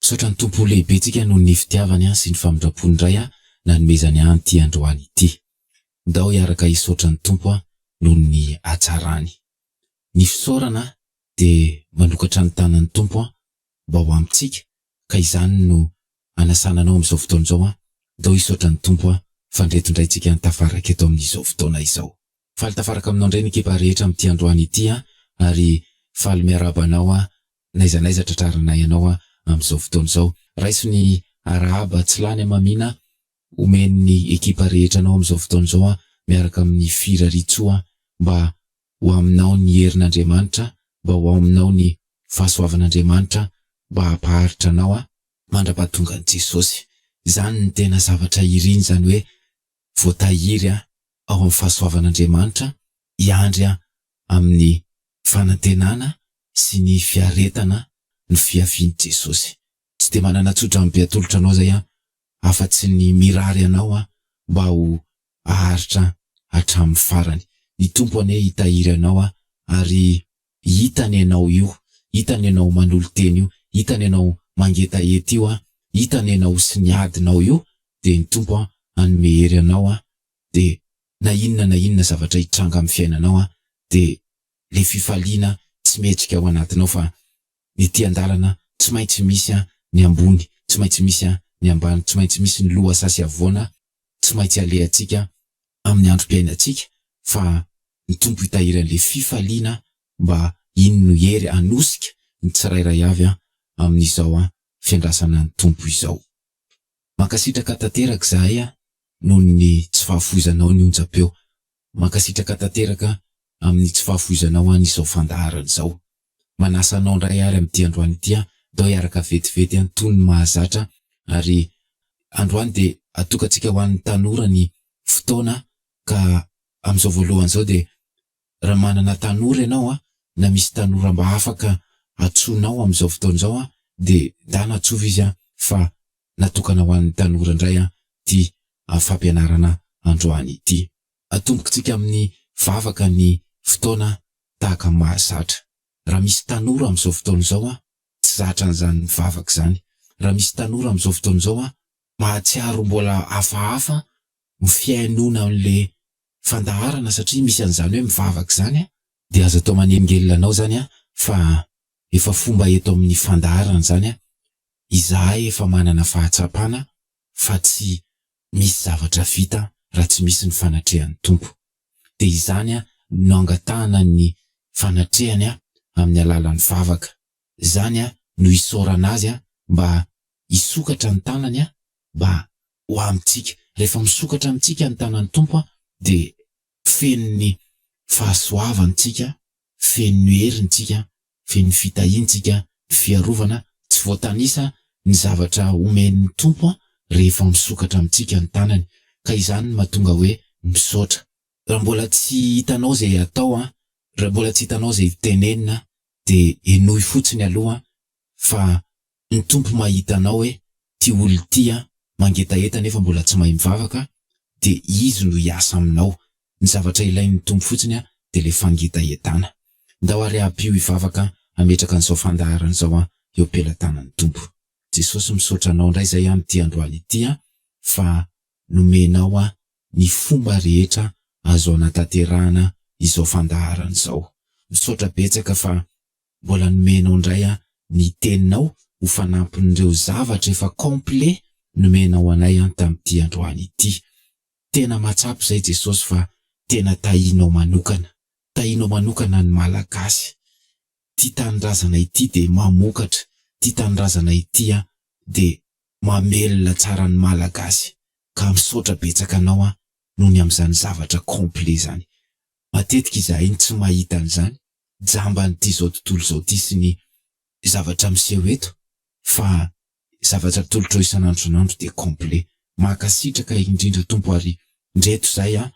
Misaotra ny Tompo lehibentsika noho ny fitiavany sy ny famindrampony Ray a nanomezany ahy an'ity androany ity. Ndao hiaraka hisaotra ny Tompo aho noho ny hatsarany. Ny fisaorana dia manokatra ny tanan'ny Tompo aho mba ho amintsika ka izany no anasana anao amin'izao fotoana izao a, ndao hisaotra ny Tompo aho fa ndreto indray tsika tafaraka eto amin'izao fotoana izao. Faly tafaraka aminao indray ny ekipa rehetra amin'ity androany ity an! ary faly miarahaba anao an! n'aiza n'aiza tratrarinay anao an! amin'izao fotoana izao. Raiso ny arahaba tsy lany hamamiana omen'ny ekipa rehetra anao amin'izao fotoana izao an! miaraka amin'ny firarian-tsoa an! mba ho aminao ny herin'Andriamanitra, mba ho ao aminao ny fahasoavan'Andriamanitra, mba hampaharitra anao an! mandrapahatongan'i Jesosy. Izany no tena zavatra iriny, izany hoe voatahiry ao amin'ny fahasoavan'Andriamanitra hiandry amin'ny fanantenana sy ny fiaretana ny fiavian'i Jesosy. Tsy dia manana tso-drano be atolotra anao izay aho afa-tsy ny mirary anao mba ho haharitra hatramin'ny farany. Ny Tompo anie hitahiry anao ary Hitany ianao io, hitany ianao manolo-tena io, hitany ianao mangetaheta io, hitany ianao sy ny adinao io, dia ny Tompo hanome hery anao, dia na inona na inona zavatra hitranga amin'ny fiainanao, dia ilay fifaliana tsy mihetsika ao anatinao fa Ny ety an-dalana tsy maintsy misy ny ambony, tsy maintsy misy ny ambany, tsy maintsy misy ny loha saha sy havoana tsy maintsy alehantsika amin'ny androm-piainantsika fa ny Tompo hitahiry an'ilay fifaliana mba iny no hery hanosika ny tsirairay avy amin'izao fiandrasana ny Tompo izao. Mankasitraka tanteraka izahay noho ny tsy fahafoizanao ny onjam-peo Mankasitraka tanteraka amin'ny tsy fahafoizanao an izao fandaharana izao. Manasa anao indray ary amin'ity androany ity aho ndao hiaraka vetivety an toy ny mahazatra ary androany dia atokantsika ho an'ny tanora ny fotoana ka amin'izao voalohany izao dia raha manana tanora ianao an na misy tanora mba afaka atsoinao amin'izao fotoana izao an dia ndana atsova izy an fa natokana ho an'ny tanora indray an ity amin'ny fampianarana androany ity. Atombokintsika amin'ny vavaka ny fotoana tahaka ny mahazatra. Raha misy tanora amin'izao fotoana izao tsy zatra an'izany mivavaka izany, raha misy tanora amin'izao fotoana izao mahatsiaro mbola hafahafa ny fihainoana an'ilay fandaharana satria misy an'izany hoe mivavaka izany, dia aza atao manelingelina anao izany fa efa fomba eto amin'ny fandaharana izany, izahay efa manana fahatsapana fa tsy misy zavatra vita raha tsy misy ny fanatrehan'ny Tompo. Dia izany no angatahana ny fanatrehany amin'ny alalan'ny vavaka. Izany no isaorana Azy mba hisokatra ny tanany mba ho amintsika. Rehefa misokatra amintsika ny tanan'ny Tompo dia feno ny fahasoavany tsika, feno ny heriny tsika Feno fitahiantsika ny fiarovana tsy voatanisa ny zavatra omen'ny Tompo rehefa misokatra amintsika ny tanany, ka izany no mahatonga hoe misaotra. Raha mbola tsy hitanao izay atao, raha mbola tsy hitanao izay tenenina, dia henoy fotsiny aloha fa Ny Tompo mahita anao e, ty olona ty an, mangetaheta nefa mbola tsy mahay mivavaka de Izy no hiasa aminao, ny zavatra ilain'ny Tompo fotsiny an de le fangetahetana. Ndao ary ampio hivavaka hametraka an'izao fandaharana izao an eo pelatanan'ny Tompo. Jesosy misaotra anao ndray zay an ity androany ity an fa nomenao an ny fomba rehetra azo anatanterahana izao fandaharana izao. Misaotra betsaka fa Mbola nomenao indray an ny teninao ho fanampin'ireo zavatra efa complet nomenao anay an tamin'ity androany ity. Tena mahatsapa izay Jesosy fa tena tahinao manokana. Tahinao manokana ny Malagasy. Ity tanindrazana ity dia mamokatra. Ity tanindrazana ity an dia mamelona tsara ny Malagasy. Ka misaotra betsaka anao an noho ny amin'izany zavatra complet izany. Matetika izahay no tsy mahita an'izany, jamban'ity izao tontolo izao ity sy ny zavatra miseho eto, fa zavatra atolotrao isan'andro isan'andro dia complet. Mankasitraka indrindra Tompo ary ndreto izay an,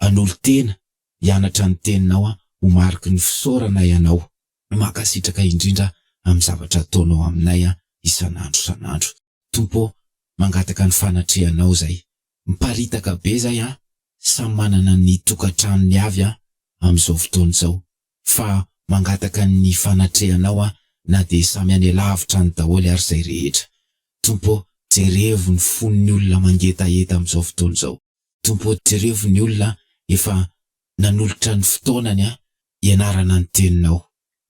hanolo-tena hianatra ny Teninao an, ho mariky ny fisaorana Ianao. Mankasitraka indrindra amin'ny zavatra ataonao aminay an, isan'andro isan'andro. Tompo ô, mangataka ny fanatrehanao izay Miparitaka be zay an! Samy manana ny tokantranony avy an! Amin'izao fotoana izao. Fa mangataka ny fanatrehanao an! Na dia samy any alavitra any daholo ary izay rehetra. Tompo ô, jerevo ny fon'ny olona mangetaheta amin'izao fotoana izao. Tompo ô, jerevo ny olona efa nanolotra ny fotoanany an! ianarana ny teninao,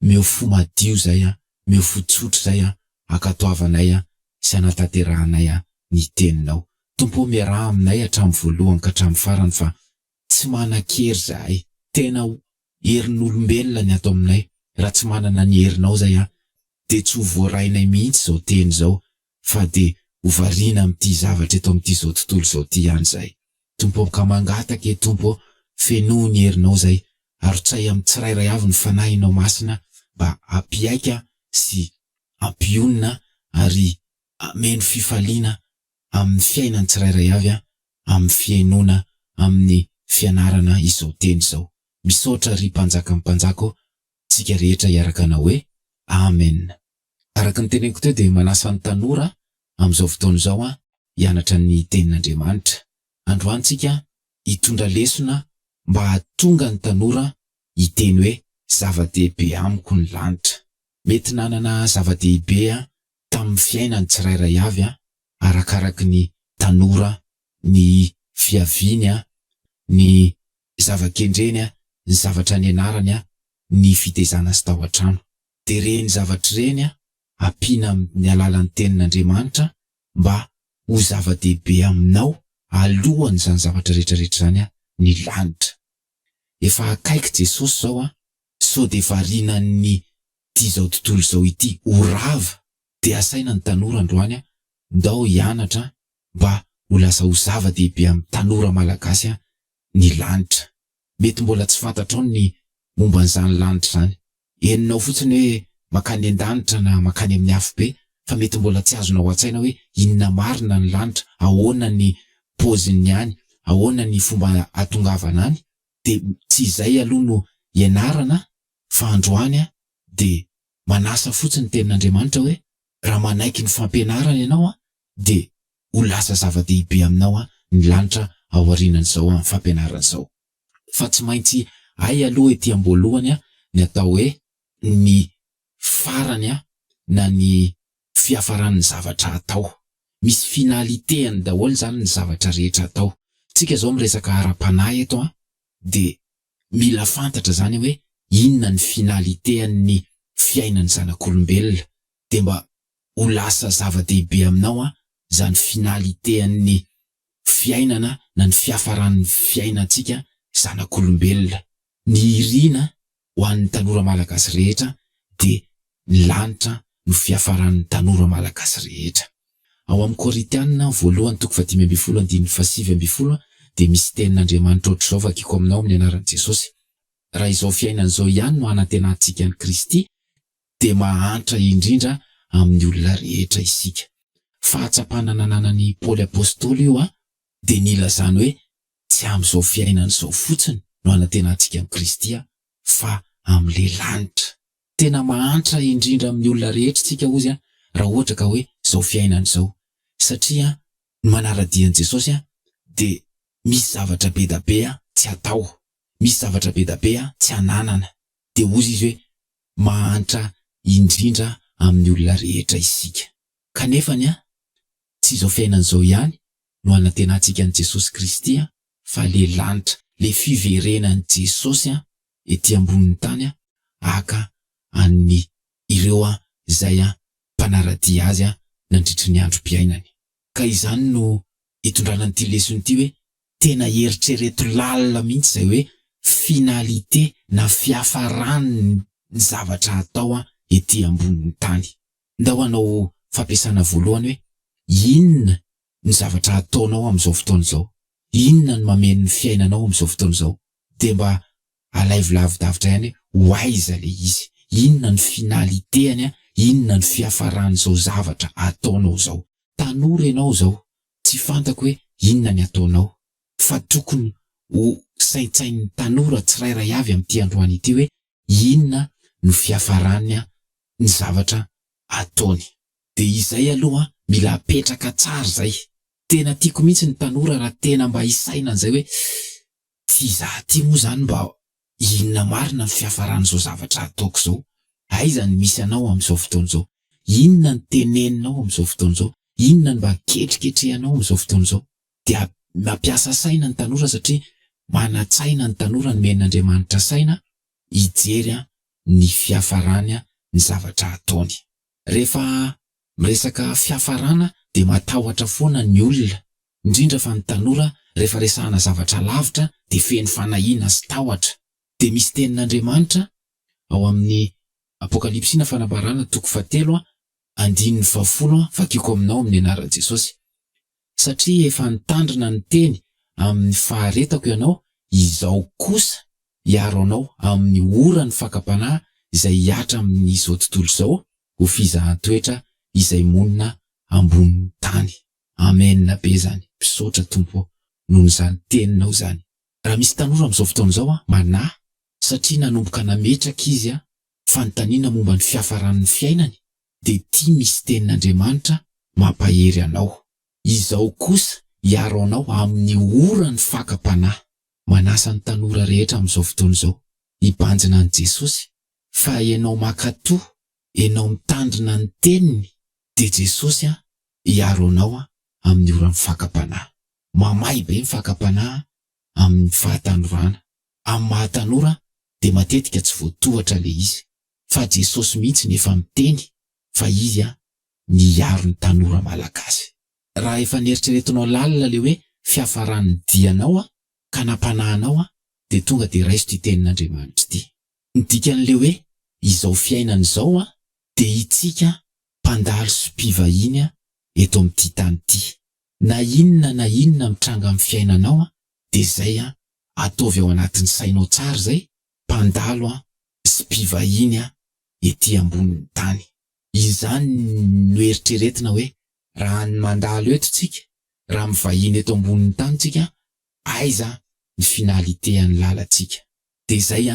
meo fo madio zay an, meo fo tsotra zay an, akatoavanay an, sy anatanterahanay an ny teninao. Tompo o miaraha aminay hatramin'ny voalohany ka hatramin'ny farany fa tsy manan-kery zahay, tena ho herin'olombelona ny ato aminay, raha tsy manana ny herinao zay an, dia tsy ho voarainay mihitsy izao teny izao, fa dia ho variana amin'ity zavatra eto amin'ity izao tontolo izao ity ihany izahay. Tompo ô, ka mangataka ee Tompo ô, fenoy ny herinao izay, arotsahy amin'ny tsirairay avy ny Fanahinao Masina mba hampihaika sy hampionona ary hameno fifaliana amin'ny fiainan'ny tsirairay avy amin'ny fihenoana amin'ny fianarana izao teny izao. Misaotra ry Mpanjakan'ny Mpanjaka ô, tsika rehetra hiaraka Anao hoe Amen. Araka ny teneniko teo dia manasa ny tanora amin'izao fotoana izao aho hianatra ny tenin'Andriamanitra. Androany tsika hitondra lesona mba hahatonga ny tanora hiteny hoe zava-dehibe amiko ny lanitra. Mety nanana zava-dehibe tamin'ny fiainany tsirairay avy arakaraky ny tanora, ny fiaviany, ny zava-kendreny, ny zavatra nianarany, ny fitezana azy tao an-trano. dia ireny zavatra ireny ampiana amin' ny alalan' ny Tenin' Andriamanitra mba ho zava-dehibe aminao alohan' izany zavatra rehetra rehetra izany ny lanitra. Efa akaiky Jesosy izao an! Sao dia varinan' ny ity izao tontolo izao ity ho rava, dia asaina ny tanora androany ndao hianatra mba ho lasa ho zava-dehibe amin' ny tanora malagasy ny lanitra. Mety mbola tsy fantatrao ny momban' izany lanitra izany Henonao fotsiny hoe mankany an-danitra na mankany amin'ny afobe fa mety mbola tsy azonao an-tsaina hoe inona marina ny lanitra, ahoana ny paozin'ny any, ahoana ny fomba hatongavana any dia tsy izay aloha no ianarana fa androany aho dia manasa fotsiny ny tenin'Andriamanitra hoe raha manaiky ny fampianarana ianao aho dia ho lasa zava-dehibe aminao aho ny lanitra aorianan'izao fampianarana izao. fa tsy maintsy hay aloha ety amboalohany ny atao hoe ny farany na ny fiafaran'ny zavatra atao. Misy finalité-ny daholo izany ny zavatra rehetra atao. Tsika izao miresaka ara-panahy eto an, dia mila fantatra izany hoe inona ny finalité-ny fiainan'ny zanak'olombelona, dia mba ho lasa zava-dehibe aminao izany finalité-ny fiainana na ny fiafaran'ny fiainantsika zanak'olombelona. Ny iriana ho an'ny tanora malagasy rehetra dia ny lanitra no fiafaran'ny tanora malagasy rehetra. Ao amin'ny Koritianina voalohany toko fahadimy ambin'ny folo andininy fahasivy ambin'ny folo dia misy tenin'Andriamanitra ohatr'izao vakiko aminao amin'ny anaran'i Jesosy, Raha izao fiainana izao ihany no hanantenantsika an'i Kristy, dia mahantra indrindra amin'ny olona rehetra isika. Fahatsapana nananan'i Paoly Apostoly io an, dia nilazany hoe tsy amin'izao fiainana izao fotsiny no anantenantsika an'i Kristy an, fa amin'ilay lanitra. Tena mahantra indrindra amin'ny olona rehetra isika hozy an, raha ohatra ka hoe izao fiainana izao. Satria an, ny manara-dia an'i Jesosy an, dia misy zavatra be da be an, tsy atao. Misy zavatra be da be an, tsy ananana. Dia hozy izy hoe, Mahantra indrindra amin'ny olona rehetra isika. Kanefa ny ahy, tsy izao fiainana izao ihany no hanantenantsika an'i Jesosy Kristy fa le lanitra, le fiverenan'i Jesosy ety ambonin'ny tany haka an'ny ireo izay mpanara-dia Azy nandritry ny androm-piainany. Ka izany no itondrana an'ity lesona ity hoe tena eritrereto lalina mihitsy izay hoe finalité na fiafaran'ny zavatra atao ety ambonin'ny tany. Ndao hanao fampiasana voalohany hoe inona ny zavatra ataonao amin'izao fotoana izao, inona no mameno ny fiainanao amin'izao fotoana izao dia mba Alaivo lavidavitra ihany hoe ho aiza ilay izy, inona no finalitéany, inona no fiafaran'izao zavatra ataonao izao. Tanora ianao izao, tsy fantako hoe inona ny ataonao, fa tokony ho saintsainin'ny tanora tsirairay avy amin'ity androany ity hoe inona no fiafaran'ny zavatra ataony. Dia izay aloha mila apetraka tsara izay. Tena tiako mihitsy ny tanora raha tena mba hisaina an'izay hoe Tsy izaho ity moa izany mba inona marina ny fiafaran'izao zavatra ataoko izao? Aiza ny misy anao amin'izao fotoana izao? Inona ny teneninao amin'izao fotoana izao? Inona ny mba ketriketrehanao amin'izao fotoana izao? Dia mampiasa saina ny tanora satria manan-tsaina ny tanora nomen'Andriamanitra saina hijery ny fiafarany ny zavatra ataony. Rehefa miresaka fiafarana dia matahotra foana ny olona, indrindra fa ny tanora rehefa resahana zavatra lavitra dia feno fanahiana sy tahotra. Dia misy tenin'Andriamanitra ao amin'ny Apokalypsy na Fanambarana toko fahatelo andininy fahafolo, vakiko aminao amin'ny anaran'i Jesosy. satria efa nitandrina niteny amin'ny faharetako ianao, izao kosa hiaro anao amin'ny oran'ny fakam-panahy izay hihatra amin'izao tontolo izao ho fizahan-toetra izay monina ambonin'ny tany. Amena be izany, misaotra Tompo ô noho izany teninao izany. Raha misy tanora amin'izao fotoana izao an, manahy satria nanomboka nametraka izy an, fanontaniana momba ny fiafaran'ny fiainany, dia ity misy tenin'Andriamanitra mampahery anao, Izaho kosa hiaro anao amin'ny oran'ny fakam-panahy. Manasa ny tanora rehetra amin'izao fotoana izao hibanjina an'i Jesosy fa ianao mankato, ianao mitandrina ny teniny dia Jesosy hiaro anao amin'ny oran'ny fakam-panahy. Mamay be ny fakam-panahy amin'ny fahatanorana. Amin'ny maha tanora dia matetika tsy voatohatra ilay izy. fa Jesosy mihitsy no efa miteny fa izy no hiaro ny tanora malagasy. Raha efa neritreretinao lalina le hoe fiafaran'ny dianao ka nampanahinao de tonga de raiso ty tenin'Andriamanitra ty. Ny dikan'le hoe izao fiainana izao de itsika mpandalo sy mpivahiny eto amin'ity tany ty. Na inona na inona mitranga amin'ny fiainanao de zay ataovy ao anatin'ny sainao tsara zay mpandalo sy mpivahiny ety ambonin'ny tany. Izany no eritreretina hoe raha ny mandalo eto tsika, raha mivahiny eto ambonin'ny tany tsika, aiza ny finalité an'ny lalantsika? Dia izay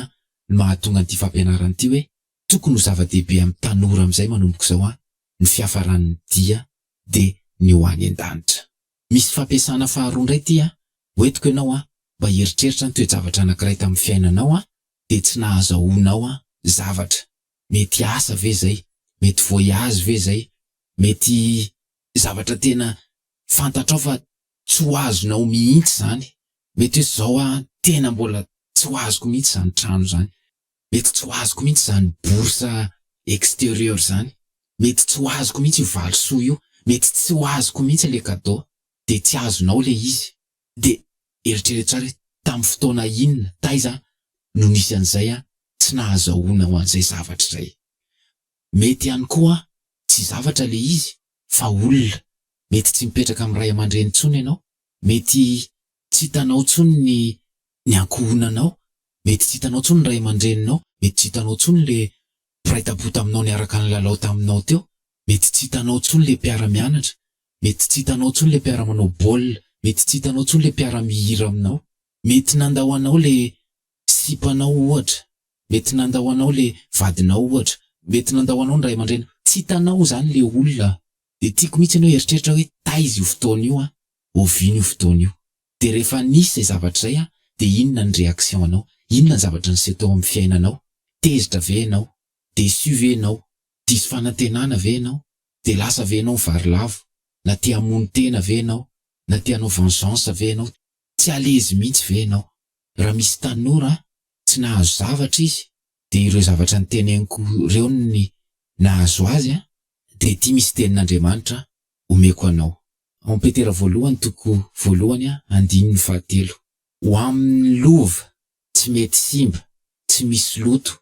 no mahatonga an'ity fampianarana ity hoe tokony ho zava-dehibe amin'ny tanora amin'izay manomboka izao ny fiafaran'ny dia dia ny ho any an-danitra. Misy fampiasana faharoa indray ity a, ho entiko ianao a, mba hieritreritra ny toe-javatra anankiray tamin'ny fiainanao a, dia tsy nahazahoanao a, zavatra. Mety asa ve izay? Mety voyage ve izay? Mety zavatra tena fantatrao fa tsy ho azonao mihitsy izany. Mety hoe izao a, tena mbola tsy ho azoko mihitsy izany trano izany. Mety tsy ho azoko mihitsy izany bourse extérieure izany, mety tsy ho azoko mihitsy io valisoa io, mety tsy ho azoko mihitsy ilay cadeau, dia tsy azonao ilay izy. Dia eritrereto tsara hoe tamin'ny fotoana inona, taiza no nisy an'izay tsy nahazahoanao an'izay zavatra izay. Mety ihany koa tsy zavatra ilay izy fa olona, mety tsy mipetraka amin'ny ray aman-dreny intsony ianao, mety Tsy hitanao tsony ny ny ankohonanao, mety tsy hitanao tsony ny ray aman-dreninao, mety tsy hitanao tsony le mpiray tampo taminao niaraka nilalao taminao teo, mety tsy hitanao tsony le mpiara-mianatra, mety tsy hitanao tsony le mpiara-manao baolina, mety tsy hitanao tsony le mpiara-mihira aminao. Mety nandao anao le sipanao ohatra, mety nandao anao le vadinao ohatra, mety nandao anao ny ray aman-dreninao, tsy hitanao zany le olona Dia tiako mihitsy enao hieritreritra hoe taiza io fotoana io an, oviana io fotoana io. Dia rehefa nisy izay zavatra izay an, dia inona ny reaction anao, inona ny zavatra niseho tao amin'ny fiainanao, tezitra ve enao, deçu ve enao, diso fanantenana ve enao, dia lasa ve enao mivarilavo, na te hamono tena ve enao, na te hanao vengeance ve enao, tsy à l'aise mihitsy ve enao. Raha misy tanora an, tsy nahazo zavatra izy, Dia ireo zavatra niteneniko ireo ny nahazo azy an, dia ity misy tenin'Andriamanitra omeko anao. Ao amin'ny Petera voalohany toko voalohany an, andininy fahatelo. Ho amin'ny lova tsy mety simba, tsy misy loto,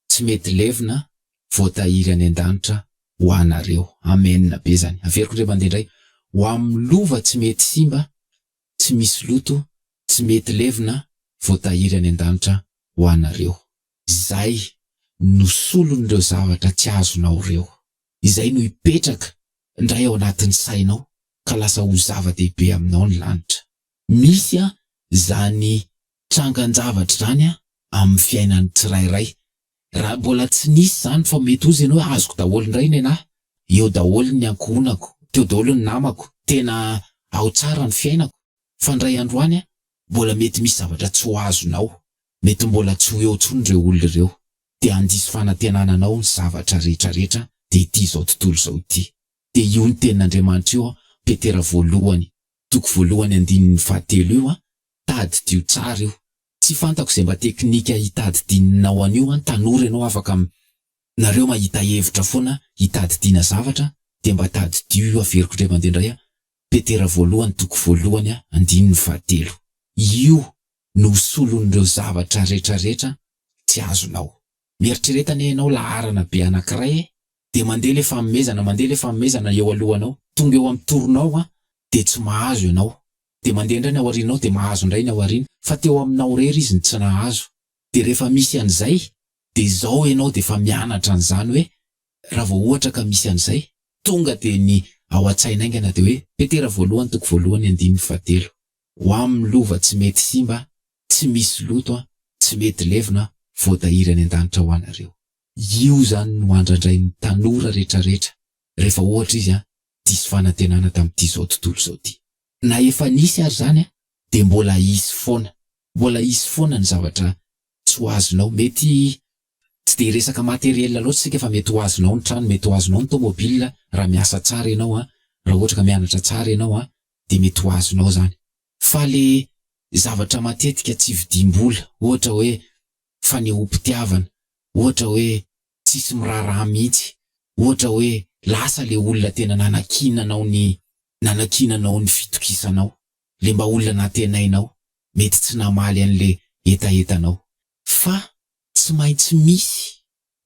tsy mety levona voatahiry any an-danitra ho anareo. Amen be izany. Averiko indray mandeha indray. Ho amin'ny lova tsy mety simba, tsy misy loto tsy mety levona voatahiry any an-danitra ho anareo. Izay no solon'ireo zavatra tsy azonao ireo. Izay no hipetraka indray ao anatin'ny sainao ka lasa ho zava-dehibe aminao ny lanitra. Misy izany trangan-javatra izany amin'ny fiainan'ny tsirairay, Raha mbola tsy nisy izany fa mety ho izy ianao hoe azoko daholo indray ny anah, eo daholo ny ankohonako, teo daholo ny namako, tena ao tsara ny fiainako, fa indray andro any mbola mety misy zavatra tsy ho azonao, mety mbola tsy ho eo intsony ireo olona ireo, dia handiso fanantenana anao ny zavatra rehetra rehetra dia ity izao tontolo izao ity. Dia io ny tenin'Andriamanitra io, Petera voalohany, toko voalohany andininy fahatelo io, tadidio tsara io, Tsy fantako zay mba teknika hitadidininao an'io an, tanora ianao afaka mi, nareo mahita hevitra foana hitadidiana zavatra dia mba tadidio io averiko ndray mandeha ndray an, Petera voalohany toko voalohany an, andininy fahatelo. Io no solon'ireo zavatra retraretra tsy azonao. Mieritrereta anie ianao laharana be anakiray e! dia mandeha le famomezana mandeha le famomezana eo alohanao tonga eo am toronao an dia tsy mahazo ianao dia mandeha indray ny ao arinanao dia mahazo indray ny ao arina fa teo aminao rery izy no tsy nahazo dia rehefa misy anizay dia izao ianao dia efa mianatra anizany hoe raha vao ohatra ka misy anizay tonga dia ny ao atsaina aingana dia hoe petera voalohany toko voalohany andininy fahatelo ho am lova tsy mety simba tsy misy loto an tsy mety levona an voatahiry any andanitra ho anareo. Io zany no andrandrain'ny tanora retraretra rehefa ohatra izy diso fanantenana tamin'ity zao tontolo zao ty. Na efa nisy ary zany dia mbola hisy foana. Mbola hisy foana ny zavatra tsy ho azonao. Mety tsy dia resaka materiel loatra isika fa mety ho azonao ny trano, mety ho azonao ny tomobile raha miasa tsara ianao, raha ohatra ka mianatra tsara ianao dia mety ho azonao zany. Fa le zavatra matetika tsy vidim-bola ohatra hoe fanehoam-pitiavana, ohatra hoe tsisy miraharaha mihitsy, ohatra hoe lasa le olona tena nanakiananao ny nanakiananao ny fitokisanao, le mba olona nantenainao, mety tsy namaly an'le hetahetanao. Fa tsy maintsy misy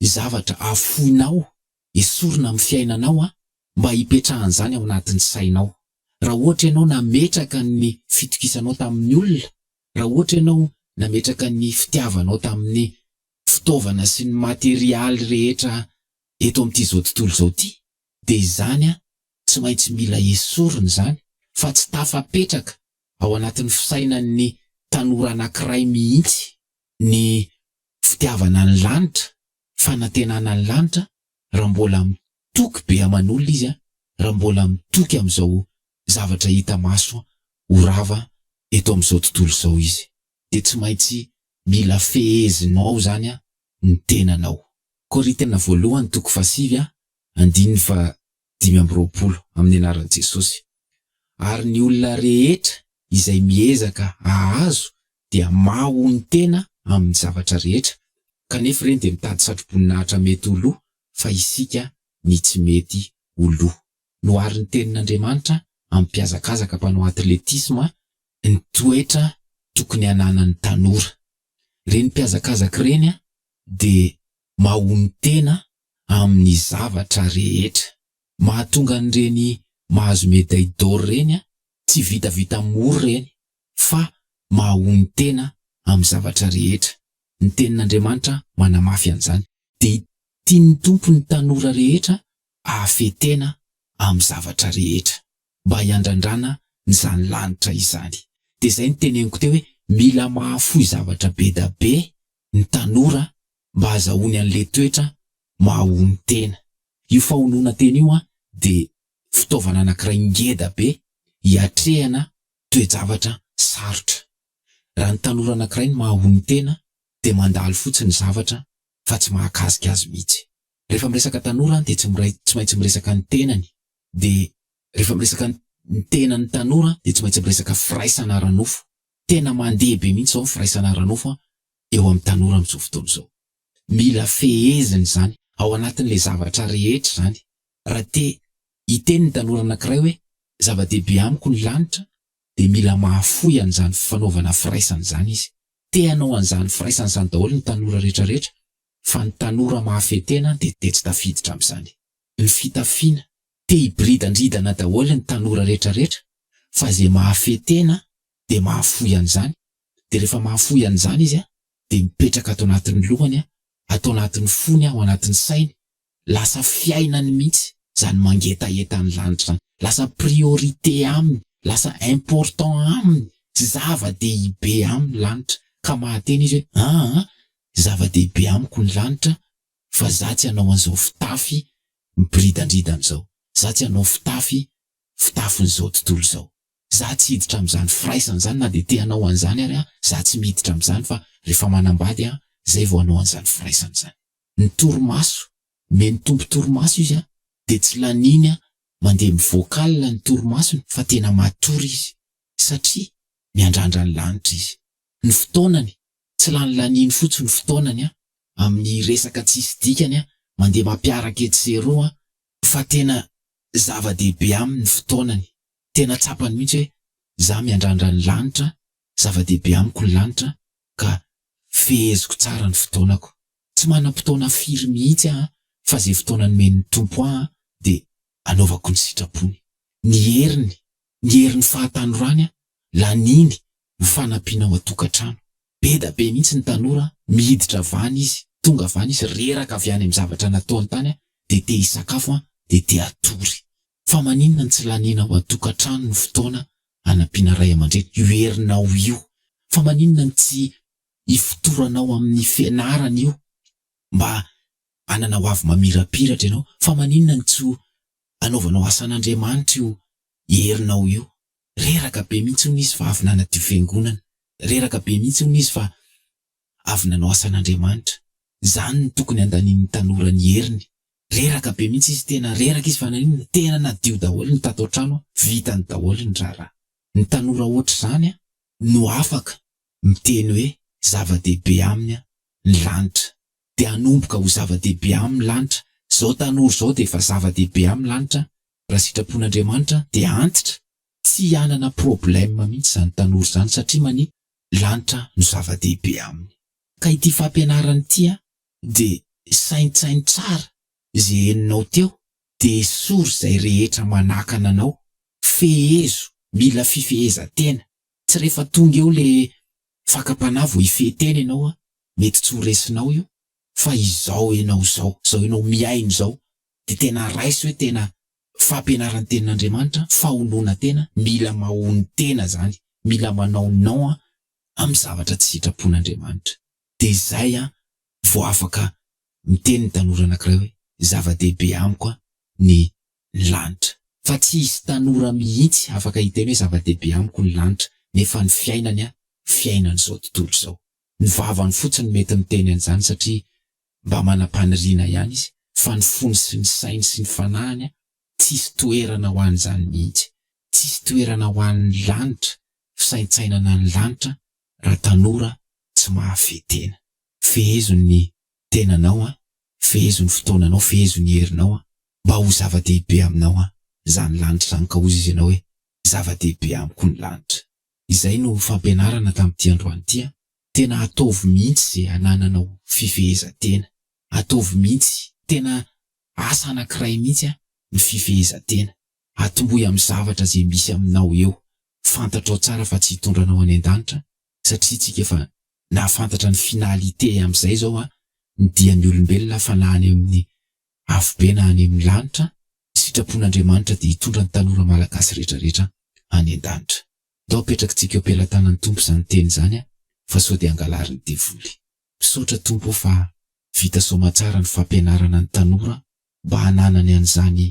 zavatra afoinao, esorina amin'ny fiainanao an, mba hipetrahan'izany ao anatin'ny sainao. Raha ohatra ianao nametraka ny fitokisanao tamin'ny olona Raha ohatra ianao nametraka ny fitiavanao tamin'ny fitaovana sy ny materialy rehetra eto amin'ity izao tontolo izao ity, dia izany tsy maintsy mila esorina izany fa tsy tafapetraka ao anatin'ny fisainan'ny tanora anankiray mihitsy ny fitiavana ny lanitra, fanantenana ny lanitra, raha mbola mitoky be aman'olona izy, raha mbola mitoky amin'izao zavatra hita maso ho rava eto amin'izao tontolo izao izy dia tsy maintsy mila fehezinao izany ny tenanao. Korintiana voalohany toko fahasivy andininy fahadimy amby roapolo Amin'ny anaran'i Jesosy ary ny olona rehetra izay miezaka hahazo dia mahonon-tena amin'ny zavatra rehetra kanefa ireny dia mitady satroboninahitra mety ho lo fa isika ny tsy mety ho lo. Noharin'ny Tenin'Andriamanitra amin'ny mpihazakazaka mpanao atletisma ny toetra tokony hananan'ny tanora. Ireny mpihazakazaka ireny dia mahonon-tena amin'ny zavatra rehetra. Mahatonga an'ireny mahazo médaille d'or ireny tsy vitavita mora ireny fa mahonon-tena amin'ny zavatra rehetra. Ny Tenin'Andriamanitra manamafy an'izany. Dia tian'ny Tompo ny tanora rehetra Hahafehy tena amin'ny zavatra rehetra mba hiandrandrana izany lanitra izany. Dia izay no teneniko teo hoe mila mahafoy zavatra be da be ny tanora mba hazahoany an'le toetra mahahono tena. Io fahonoana tena io dia fitaovana anakiray ngeda be hiatrehana toe-javatra sarotra. Raha ny tanora anakiray no mahahono tena dia mandalo fotsiny zavatra fa tsy mahakasika azy mihitsy. Rehefa miresaka tanora dia tsy miray tsy maintsy miresaka ny tenany dia rehefa miresaka ny ny tenany tanora dia tsy maintsy miresaka firaisana ara-nofo. Tena mandeha be mihitsy izao ny firaisana ara-nofo eo amin'ny tanora amin'izao fotoana izao. Mila fehezina izany ao anatin'ilay zavatra rehetra izany. Raha te hiteny ny tanora anankiray hoe zava-dehibe amiko ny lanitra dia mila mahafoy an'izany fanaovana firaisana izany izy. Te hanao an'izany firaisana izany daholo ny tanora rehetra rehetra Fa ny tanora mahafehy tena dia dia tsy tafiditra amin'izany. Ny fitafiana, te hiboridandridana daholo ny tanora retraretra fa izay mahafehy tena dia mahafoy an'izany, dia rehefa mahafoy an'izany izy dia mipetraka ato anatin'ny lohany, ato anatin'ny fony, ao anatin'ny sainy Lasa fiainany mihitsy zany mangetaheta ny lanitra zany. Lasa priorité aminy, lasa important aminy sy zava dehibe aminy ny lanitra ka mahateny izy hoe aa zava dehibe amiko ny lanitra fa za tsy hanao an'izao fitafy miboridandridana izao, za tsy hanao fitafy fitafin'izao tontolo izao, za tsy hiditra amin'izany firaisana izany na dia te hanao an'izany ary aho, za tsy miditra amin'izany fa rehefa manambady aho zay vao hanao an'izany firaisana izany. ny torimaso, omen'ny Tompo torimaso izy an, dia tsy laniany an, mandeha mivoaka alina ny torimasony fa tena matory izy, satria miandrandra ny lanitra izy. Ny fotoanany, tsy lany laniany fotsiny ny fotoanany an, amin'ny resaka tsisy dikany an, mandeha mampiaraka etsy sy eroa an, fa tena zava-dehibe aminy ny fotoanany, tena tsapany mihitsy hoe za miandrandra ny lanitra Zava-dehibe amiko ny lanitra ka feheziko tsara ny fotoanako. Tsy manam-potoana firy mihitsy aho fa izay fotoana nomen'ny Tompo ahy dia anaovako ny sitrapony. Ny heriny, ny herin'ny fahatanorany laniny ho fanampiana ao an-tokantrano. Be da be mihitsy ny tanora miditra avy any izy, tonga avy any izy, reraka avy any amin'ny zavatra nataony tany dia te hisakafo dia te hatory. Fa maninona no tsy laniana ao an-tokantrano ny fotoana hanampiana ray aman-dreny? Io herinao io, fa maninona no tsy ifotoranao amin'ny fianarana io mba hanana hoavy mamirapiratra ianao? Fa maninona no tsy anaovanao asan'Andriamanitra io herinao io? Reraka be mihitsy hono izy fa avy nanadio fiangonana. Reraka be mihitsy hono izy fa Avy nanao asan'Andriamanitra. Zany no tokony andanin'ny tanora ny heriny. Reraka be mihitsy izy tena reraka izy fa naninona tena nadio daholo ny tato an-trano an, vitany daholo ny raharaha. Ny tanora ohatr'izany an no afaka miteny hoe zava-dehibe aminy an ny lanitra. Dia hanomboka ho zava-dehibe aminy ny lanitra. Zao tanora zao dia efa zava-dehibe aminy lanitra raha sitrapon'Andriamanitra dia antitra. Tsy hanana problème mihitsy izany tanora izany satria mania lanitra no zava-dehibe aminy. Ka ity fampianarana ity an de saintsaino tsara ze henonao teo de esory zay rehetra manakana anao, fehezo, mila fifehezan-tena, tsy rehefa tonga eo le fakam-panahy vao hifehy tena enao an, mety tsy ho resinao io fa izao enao zao, zao enao mihaino zao de tena raiso hoe tena Fampianaran'ny tenin'Andriamanitra, faholoana tena, mila mahono tena zany, mila manao non an amin'ny zavatra tsy sitrapon'Andriamanitra. De zay an vao afaka miteny ny tanora anakiray hoe zava-dehibe amiko an ny lanitra. Fa tsy hisy tanora mihitsy afaka hiteny hoe zava-dehibe amiko ny lanitra nefa ny fiainany an fiainan'izao tontolo izao. Ny vavany fotsiny no mety miteny an'izany satria Mba manam-paniriana ihany izy fa ny fony sy ny sainy sy ny fanahiny tsisy toerana ho an'izany mihitsy, tsisy toerana ho an'ny lanitra, fisaintsainana ny lanitra raha tanora tsy mahafehy tena. Fehezo ny tenanao an, fehezo ny fotoananao, fehezo ny herinao an, mba ho zava-dehibe aminao an izany lanitra izany ka hozy izy ianao hoe zava-dehibe amiko ny lanitra. Izay no fampianarana tamin'ity androany ity an, Tena ataovy mihitsy ze anananao fifehezantena, ataovy mihitsy, tena asa anakiray mihitsy an ny fifehezantena, atombohy am zavatra ze misy aminao eo, fantatrao tsara fa tsy hitondra anao any andanitra satria tsika efa nahafantatra ny finalité am zay zao an ny dia ny olombelona fa na any am ny afobe na any am ny lanitra, sitrapon Andriamanitra dia hitondra ny tanora malagasy retraretra any andanitra. Ndao apetrakitsika eo am-pelatanan'ny Tompo izany teny izany an, fa sao dia angalarin'ny devoly. Misaotra Tompo o fa vita soamatsara ny fampianarana ny tanora mba hananany an'izany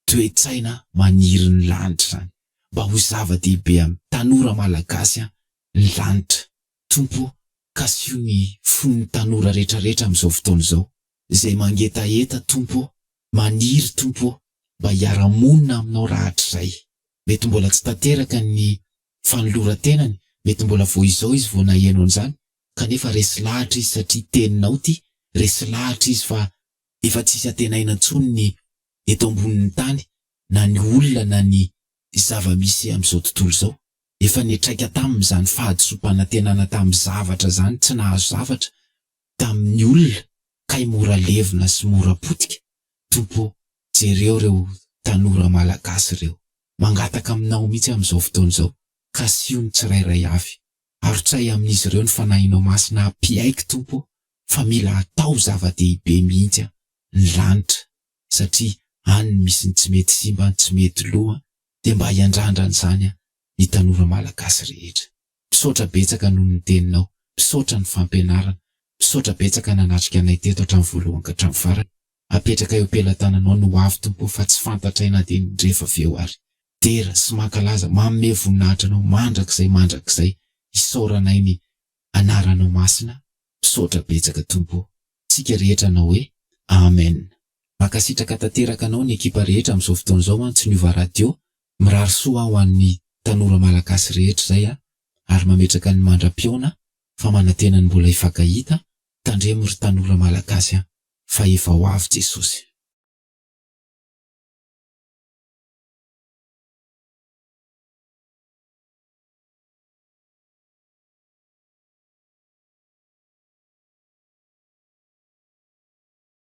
toe-tsaina maniry ny lanitra izany. Mba ho zava-dehibe amin'ny tanora malagasy an, ny lanitra. Tompo kasiho ny fon'ny tanora retraretra amin'izao fotoana izao, izay mangetaheta Tompo o, maniry Tompo o, mba hiara-monina aminao rahatrizay. mety mbola tsy tanteraka ny fanoloran-tenany, mety mbola vao izao izy vao naheno an'izany, kanefa resy lahatra izy satria teninao ity, resy lahatra izy fa efa tsisy antenaina intsony ny eto ambonin'ny tany na ny olona na ny zava-misy amin'izao tontolo izao, efa nitraika taminy izany fahadisoam-panantenana tamin'ny zavatra izany, tsy nahazo zavatra, tamin'ny olona kay mora levona sy mora potika Tompo o jereo reo tanora malagasy reo mangataka aminao mitsy amin'izao fotoana izao kasiho ny tsirairay avy arotsahy amin'izy reo ny fanahinao masina hampiaiky Tompo o fa mila atao zava-dehibe mihitsy an ny lanitra satria any ny misy ny tsy mety simba ny tsy mety lo an dia mba hiandrandra an'izany an ny tanora malagasy rehetra. Misaotra betsaka noho ny teninao, misaotra ny fampianarana, misaotra betsaka nanatrika anay teto hatramin'ny voalohany ka hatramin'ny farany, apetraka eo pelatananao ny hoavy Tompo o fa tsy fantatray na dia ny rehefa avy eo ary. Dera sy mankalaza, manome voninahitra Anao mandrakizay mandrakizay, isaoranay ny Anaranao Masina, misaotra betsaka Tompo o. Tsika rehetra anao hoe, Amen. Mankasitraka tanteraka anao ny ekipa rehetra amin'izao fotoana izao an tsy niova radio Mirary soa ho an'ny tanora malagasy rehetra izay a, ary mametraka ny mandra-pihaona fa manantena ny mbola hifankahita, tandremo ry tanora malagasy a, fa efa ho avy Jesosy.